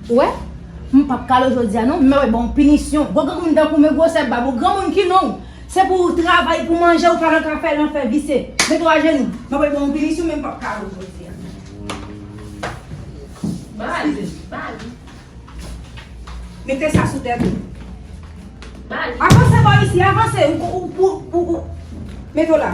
Ou wè? M pap kale w jodi a non, men wè ban w pinisyon. Gwo granmoun tankou men gwosè bab ou, granmoun ki non w? Se pou w travay pou w manje, ou pa nan ka fè lanfè visye. Mete w ajenou. Mwen pral ban w pinisyon men m pap kale w jodi a. Ba li. Ba li. Mete sa sou tèt ou. Ba li. Avanse bò isi, avanse. Ou pou, ou pou. Mete w la.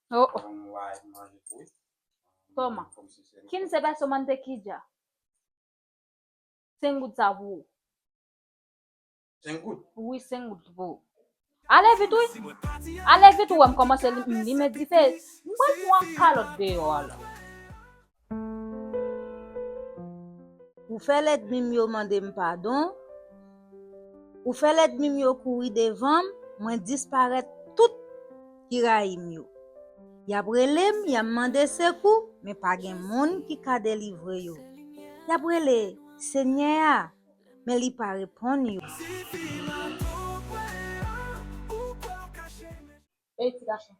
Oh oh. Toma. Kin se pa soman te kija. 5 goud sa pou ou. 5 goud? Oui, 5 goud pou ou. Ale vit oui. Ale vit ou wèm komanse li mèt dife. Mwen pwan kalot deyo ala. Ou fè lèdmi m yo mande m padon, ou fè lèdmi m yo kouri devan m, mwen disparèt tout ki rayi m yo. Y ap rele m, y ap mande sekou, men pa gen moun ki ka delivre yo. Y ap rele Senyè a, men li pa reponn yo. Ey ti gason.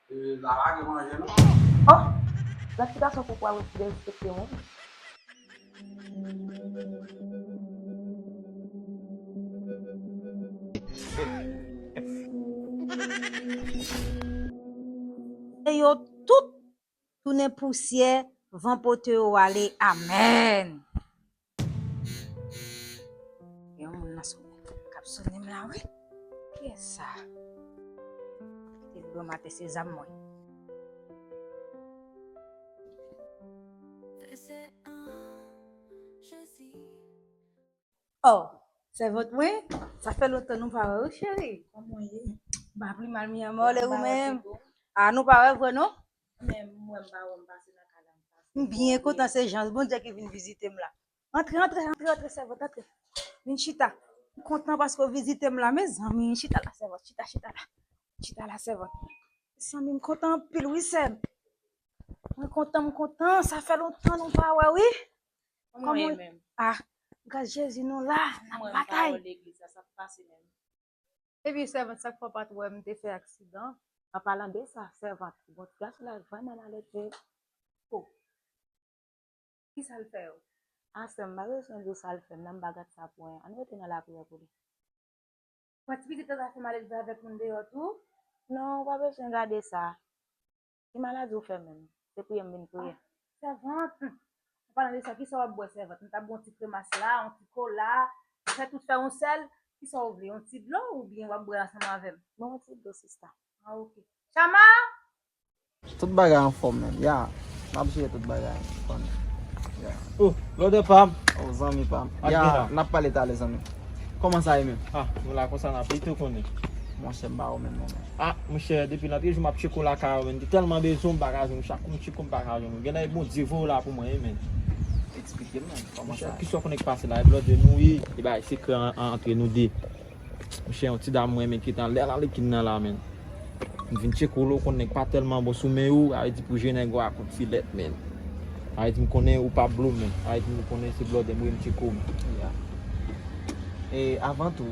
Lala gen manje non. Oh! Nan ki gason pou pral derespekte moun? Ke yo tout tounen pousyè van pote yo ale amen. Yon moun nan sou kap sou nem la wi. Kiyè sa? Kite blan mate se zam mwen. Oh, sèvant mwen, sa fè lontan nou pa wè wi cheri. Kòman ou ye? Ba pi mal mi anmò le ou menm. Ah nou pa wè vre non? M byen kontan se jan Bondye ki vin vizite m la. Antre, antre, antre, antre sèvant antre. Vin chita. M kontan paske w vizite m la mezanmi. Chita la sèvant, chita, chita la. Chita la sèvant. Mezanmi m kontan anpil wi sè m. Mwen kontan, m kontan. Sa fè lontan nou pa wè wi. Kòman ou ye menm? Ah, gras Jezi nou la, n ap batay. Epi sèvant sak fè w pat wè m te fè aksidan. An palan de sa sèvant bon ti gason la vrèman malèdve oh kisa l fè w a sè m pa bezwen di w sa l fè m nan m pa gad sa pou anyen ann rete nan lapriyè pou li. Wè ti pitit la ta fè malèdve avèk moun deyò tou. Non ou pa bezwen gade sa. Ki maladi ou fè menm? Se priye m vin priye. Sèvant! An palan de sa, kisa w ap bwè sèvant? M ta bwè yon ti kremas la, yon ti kola, fè tout fè yon sèl. Kisa w vle? Yon ti dlo oubyen w ap bwè ansanm avè m? Mwen yon ti dlo sista. Ah ok. Chama! Tout bagay anfòm menm. Ya! M ap jere tout bagay. Ou konnen. Ya! Oh! Lòdè pa m! Oh zanmi pa m. Ya! N ap pale talè zanmi. Kòman sa ye menm? Ah! Vwla konsa n ap ye. Tou konnen. Monchè m pa wè w menm non. Ah monchè depi nan pyejou map tcheko lakay ou menn te tèlman bezwenw m paka jwenn chak kou m tcheko m paka jwenn ou genlè Bondye voyew la pou mwen wi menn Eksplikem non kòman sa ye. Kisa ou konnen ki pase la e blòdè nou wi. Li bay sekrè antre nou 2. Monchè yon ti dam mwen renmen kitan lè la li kin nan la menn. M vin tcheko lè w konn nèg pa tèlman bon sou men ou sa vle di pou je nèg ou a kout filèt menn. Sa vle di m konnen ou pa blow menn. Sa vle di m konnen se blòdè m wi m tcheko w menn. Avan tou.